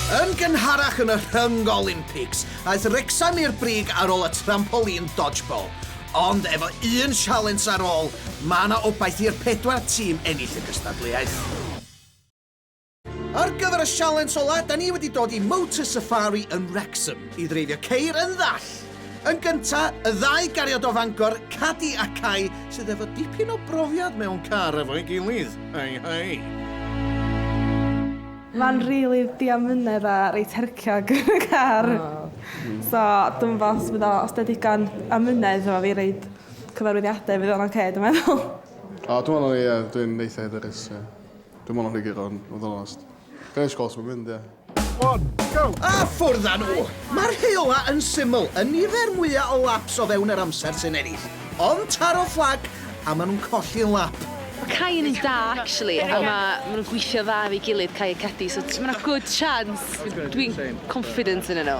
Yn gynharach yn y Rhyng Olympics, aeth Wrecsam i'r brig ar ôl y trampoline dodgeball. Ond efo un sialens ar ôl, mae yna obaith i'r pedwar tîm ennill y gystadleuaeth. Ar gyfer y sialens ola, da ni wedi dod i Motor Safari yn Wrexham i ddreifio ceir yn ddall! Yn gynta, y ddau gariad o Fangor, Cadi a Cai, sydd efo dipyn o brofiad mewn car efo'i gilydd. Hei hei! Mae'n rili diamynedd a reit herciog y car. So dwi'n meddwl os fydd o, os da digon amynedd efo fi reid cyfarwyddiadau fydd o'n oce dwi'n meddwl. O dwi'n meddwl ie dwi'n eitha hyderus ie. Dim ond rhygyd ond, fod yn onest. Be sgol sy'n mynd, ie. One, go! A ffwrdd â nhw! Mae'r heola yn syml, y nifer mwyaf o laps o fewn yr amser sy'n ennill. Ond taro fflag a maen nhw'n colli'n lap. Mae Cai yn un da, actually, a ma, ma nhw'n gweithio dda efo'i gilydd, Cai a Cedi, so mae yna good chance. Dwi'n confident yn nhw.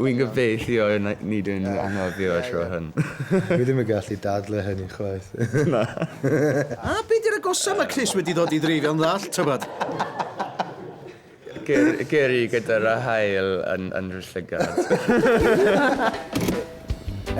Wi'n gobeithio na- nid yw'n fy anghofio y tro hwn. Dwi ddim yn gallu dadlau hynny chwaith. Na. A be di'r agosa mae Chris wedi dod i ddreifio'n ddall, tybed? Ger- geri gyda ra hael yn yn rhy llygad.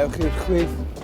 Ewch i'r chwith.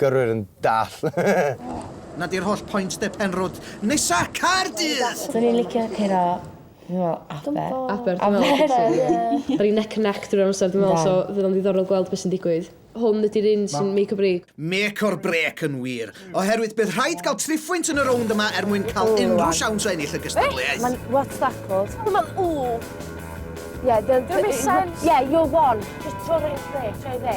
Gyrwyr yn dall. Na di'r holl point de Penrhwd nesa Caerdydd! Swn i'n licio curo fi'n me'wl Aber. Aber dwi'n me'wl Aber ie. O'n i neck and neck drwy'r amser dwi'n me'wl so fydd o'n ddiddorol gweld be' sy'n digwydd. Hwn ydi'r un sy'n make or break. Make or break yn wir, oherwydd bydd rhaid cael triphwynt yn y rownd yma er mwyn cael unrhyw siawns o ennill y gystadleuaeth. Ma'n what's that called? Dwi'n me'wl ooh. Yeah the the missile. Yeah you're one. Jyst tro'r un lle, tro'i dde.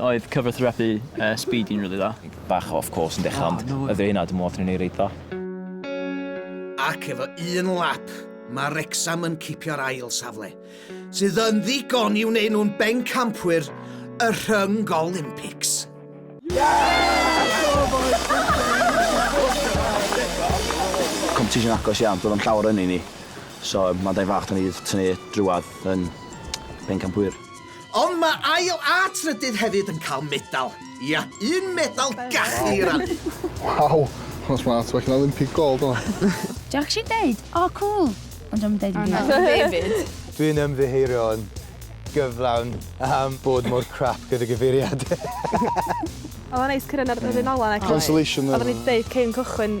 Oedd cyfathrebu yy Speedy'n rili dda. Bach o off course yn dechra ond oedd e hynna dwi me'wl atho ni reit dda. Ac efo un lap, mae Wrecsam yn cipio'r ail safle, sydd yn ddigon i wneud nhw'n bencampwyr y Rhyng Olympics. Competition agos iawn, doedd o'm llawer ynni ni, so mae'n daith fach 'da ni 'di tynnu drwadd yn bencampwyr. Ond mae ail a trydydd hefyd yn cael medal. Ia, un medal gachu i rannu. Waw, hwnna'n smart, well na Olympic gold hwnna. Dwi actually deud, o cŵl! Ond dwi'm yn deud dim byd. Fi 'fyd. Dwi'n ymddiheurio'n gyflawn am bod mor crap gyda gyfeiriadau. Oedd o'n neis cyrraedd yr un ola 'na cyn... Consolation medal. Oedden ni 'di deud cyn cychwyn.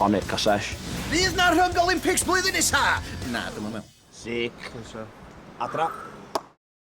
O Nick a Sesh. Fydd 'na Rhyng Olympics blwyddyn nesa? Na, dwi'm yn me'wl. Sic. Croeso. Adra.